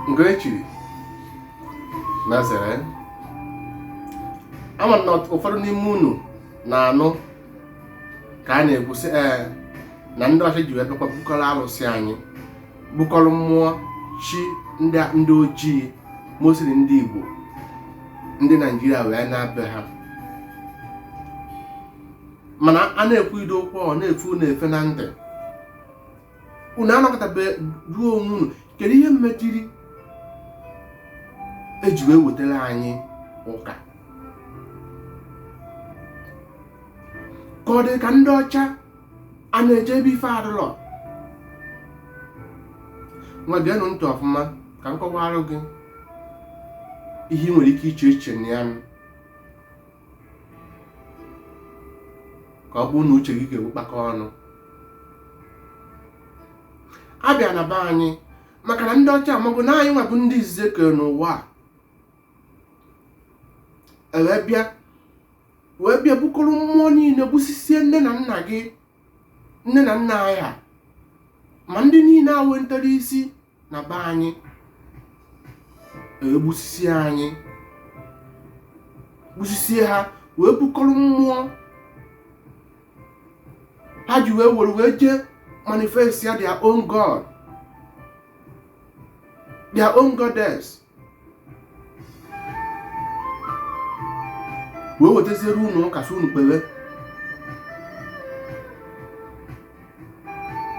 nke echiri na zere ama na ụfọdụ n'ime unu na-anụ ka a na-ekwusị ee na ndị ọcha ji wee bịakwa bukọrọ alụsị anyị bukọrọ mmụọ chi ndị ojii mostly ndị igbo ndị naijiria wee naa be ha mana a na-ekwu ụdị okwu ọ na-efe unu efe na ntị unu anọkọtabe jụọ onwe unu kedu ihe mmetiri eji wee wetara anyị ụka ka ọ dị ka ndị ọcha a na-eje ebe ife adụlọ ngwa geenụ ntị ọfụma ka m kọwara gị ihe ị nwere ike iche eche na ya ka ọ bụrụ na uche gị ga-ewu kpakọ ọnụ a bịa na be anyị maka na ndị ọcha amago na anyị nwabụ ndị izizi ekere n'ụwa a ewee bịa wee bịa bukọrọ mmụọ niile gbusisie nne na nna gị nne na nna anyị ha ma ndị niile a wentara isi na be anyị egbusisie anyị gbusisie ha wee bukọrọ mmụọ ha ji wee were wee jee manifest ya their own god their own goddess wee wetaziere unu ụka sị unu kpere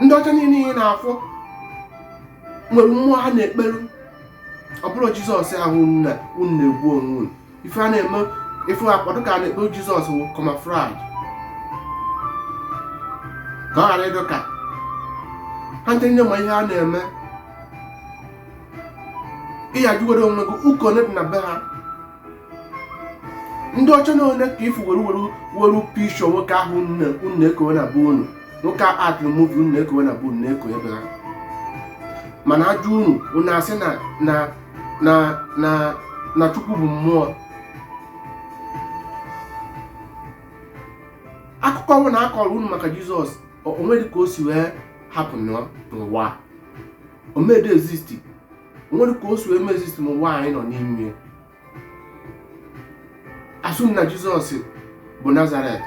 ndị ọcha niile ị na-afụ nwere mmụọ ha na-ekperu ọ bụrọ jizọs ahụ unu na-egbu onwe unu ife a na-eme ife akwado ka a na-ekpe jizọs wụ camouflage ka ọ ghara ịdụ ka ha ndị nne ma ihe a na-eme ị jụgoro onwe gị ụka one dị na be ha ndị ọcha na one ka ị fụ were were were picture nwoke ahụ unu na-ekowe na be unu nwoke a aktịrị muvi unu na-ekowe na be unu na-eko ebe ha mana a jụọ unu unu asị na na na na na chukwu bụ mmụọ akụkọ ọwụna akọrọ unu maka jizọs onwedị ka o si wee happen n'ụwa a. o medị exist o nwere ka o si eme exist n'ụwa anyị nọ n'ime ya asụ m na jizọs bụ nazaret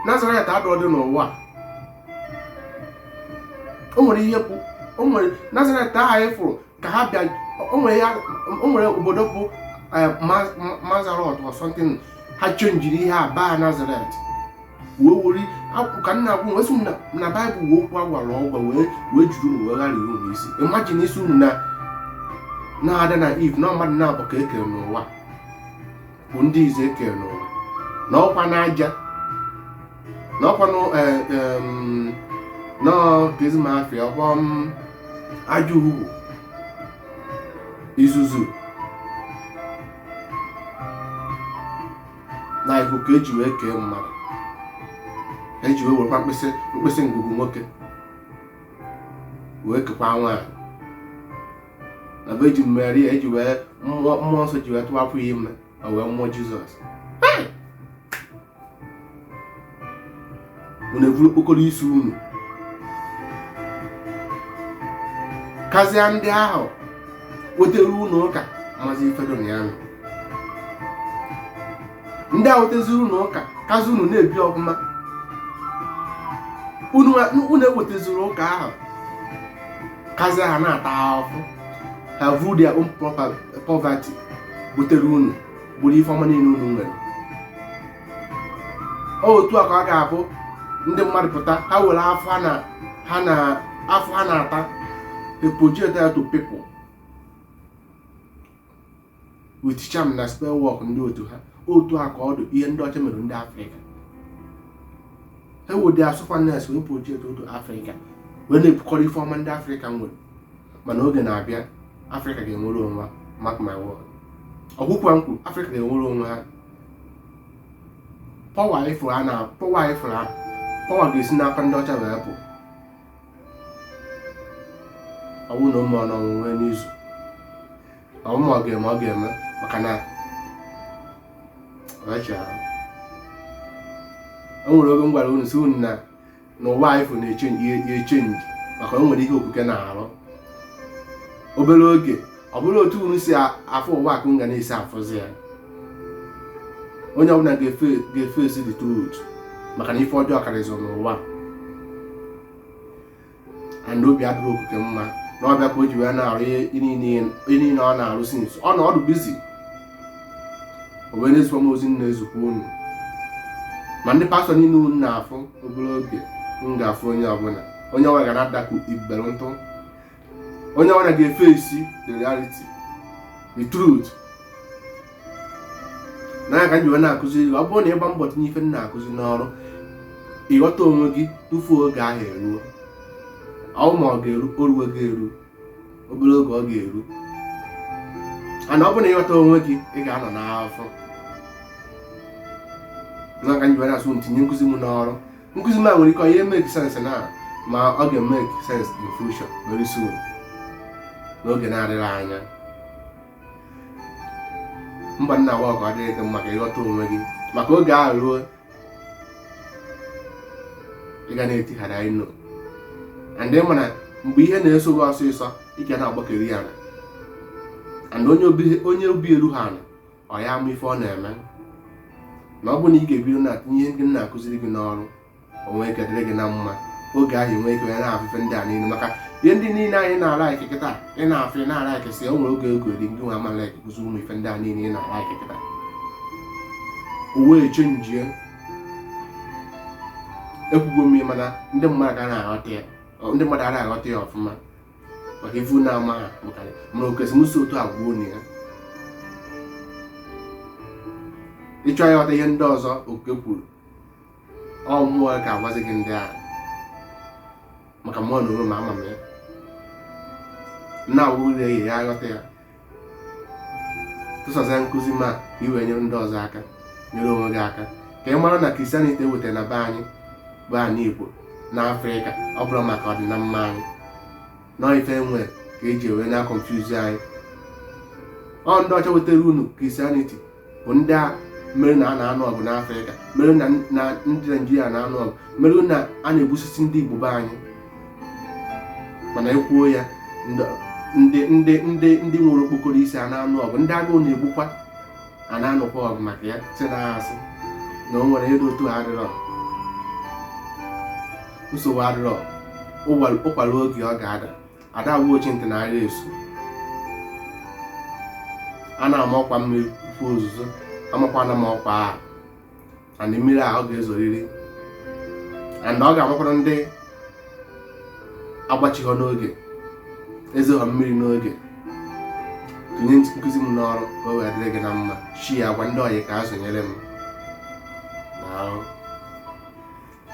nazaret adọdị n'ụwa a. o nwere ihe bụ o nwere nazaret ahụ anyị fụrụ ka ha bịa o nwere ya o nwere obodo bụ eh, Ma- Ma- mazarot or something ha chenjiri ihe a baa nazaret wee were akụkọ nna akụkọ wee sị na na baịbụl wee okwu agwara ọgwa wee wee jiri unu wee gharịa unu isi imagine a sị unu na na adam na eve na mmadụ naabọ ka e kere n'ụwa bụ ndị izizi e kere n'ụwa na ọkwa n'aja na ọkwa nụ nọkizmafia ọkwa m, aja ugwu uzuzu na ikuku eji wee kee mmadụ eji wee werekwa mkpịsị mkpịsị ngụgụ nwoke wee kekwa nwaanyị na ọ bụ eji meri eji wee mmụọ nsọ ji wee tụwapụ ya ime o wee mụọ jizọs unu eburu okpokoro isi unu kazịa ndị ahụ wetara unu ụka mazi ife dị na ya nọ ndị a wetaziri unu ụka kazi unu na-ebi ọfụma unu unu e wetaziri ụka ahụ kazi ha na-ata ahụhụ ha vu their own proper- poverty butere unu gburu ife ọma niile unu nwere otu a ka ọ ga-abụ ndị mmadụ pụta ha were afụfụ ha na ha na afụfụ ha na-ata they project that to people with charm na spell work ndị otu ha otu a ka ọ dị ihe ndị ọcha mere ndị afrịka ha were their sufferness wee project onto afrịka wee na-ebukọrọ ife ọma ndị afrịka nwere mana oge na-abịa afrịka ga-enwere onwe ha mark my word ọgwụkwa nkwu afrịka ga-enwere onwe ha power ị fụrụ a na power ị fụrụ a power ga-esi n'aka ndị ọcha wee pụ ọ wụ na ụmụ ọnọnwụ nwee n'izu na ụmụ ọ ga-eme ọ ga-eme maka na ọchịara o nwere oge m gwara unu sị unu na n'ụwa a ị fụ na-echenji maka o nwere ihe okike na-arụ obere oge ọ bụrọ otu unu si afụ ụwa ka unu ga na-esi afụzi ya onye ọbụla ga-efesi the truth maka na ife ọjọọ karịzị n'ụwa and obi adịghị okike mma na ọ bụ ya ka o ji wee na-arụ ihe niile ọ na-arụ since ọ nọdụ busy o wee na-ezikwa m ozi na-ezikwa unu ma ndị pastọ niile unu na-afụ obere oge ị ga-afụ onye ọbụla onye ọbụla ga na-adakwu ibere ntụ onye ọbụla ga-efesi the reality the truth na ya ka m ji wee na-akụzi gị ọ bụrụ na ị gbaa mbọ tinye ife m na-akụzi n'ọrụ ị ghọta onwe gị tupu oge ahụ eruo ọ wụ ma ọ ga-eru o ruwego eru obere oge ọ ga-eru and ọ bụrụ na ị ghọta onwe gị ị ga-anọ n'afọ na ka m ji wee na-asị unu tinye nkụzi m n'ọrụ nkụzi m a nwere ike ọ ya make sense now ma ọ ga-emeke sense in future very soon n'oge na-adịghị anya mba nna wa ka ọ dịrị gị mma ka ị ghọta onwe gị maka oge ahụ ruo ị ga na-etighara anyị no and ị ma na mgbe ihe na-eso gị ọsịsọ ị ga na-agbakeri ya na and onye obi eruhọ ana ọ ya ama ife ọ na-eme na ọ bụ na ị ga-ebido na-etinye ihe ndị m na-akụziri gị n'ọrụ o nwee ike dịrị gị na mma oge ahụ i nwee ike na-afụ ife ndị a niile maka ihe ndị niile anyị na-alaiki kịta ị na-afụ ị na-alaiki si o nwere oge ọ ga-adị ngị nwa ama laikikwazi ụmụ ife ndị a niile ị na-alaiki kịta o wee chenjie ekwugwo m mana ndị mmadụ ga na-aghọta ya ndị mmadụ ara aghọta ya ọfụma maka ivu na-ama ha bụkarị mana o kwesịrị m isi otu a gwa unu ya ị chọọ ịghọta ihe ndị ọzọ oke kwuru ọ mmụọ ga-agwazi gị ndị ahụ maka mụ na onwe m ama m ya na-awụ na-eyi ya aghọta ya tụsasịa nkụzi m a ka i wee nyere ndị ọzọ aka nyere onwe gị aka ka ị mara na kristianity e wetara na be anyị igbo na afrịka ọ bụrọ maka ọdịnamma anyị na ọ ife e mere ka e ji wee na-akọnfuzi anyị ọ ndị ọcha wetara unu kristianity bụ ndị a mere na a na-anụ ọgụ n'afrịka mere na ndị naijiria na-anụ ọgụ mere na a na-egbusisi ndị igbo be anyị mana e kwuo ya ndị ndị ndị ndị nwere okpokoro isi a na-anụ ọgụ ndị agụụ na-egbukwa a na-anụkwa ọgụ maka ya si na asị na o nwere ego otu adịrọ nsogbu adịrọ ụkwa ruo oge ọ ga-ada ada agwa ochi ntị na agha esu a na-ama ọkwa mmiri fụ ozuzo amakwana m ọkwa ahụ and mmiri a ọ ga-ezoriri and ọ ga-amakwara ndị agbachighọ n'oge ezeghọ mmiri n'oge tinye nkụzi m n'ọrụ ka o wee dịrị gị na mma shi a gwa ndị ọyị ka a zụnyere m na arụ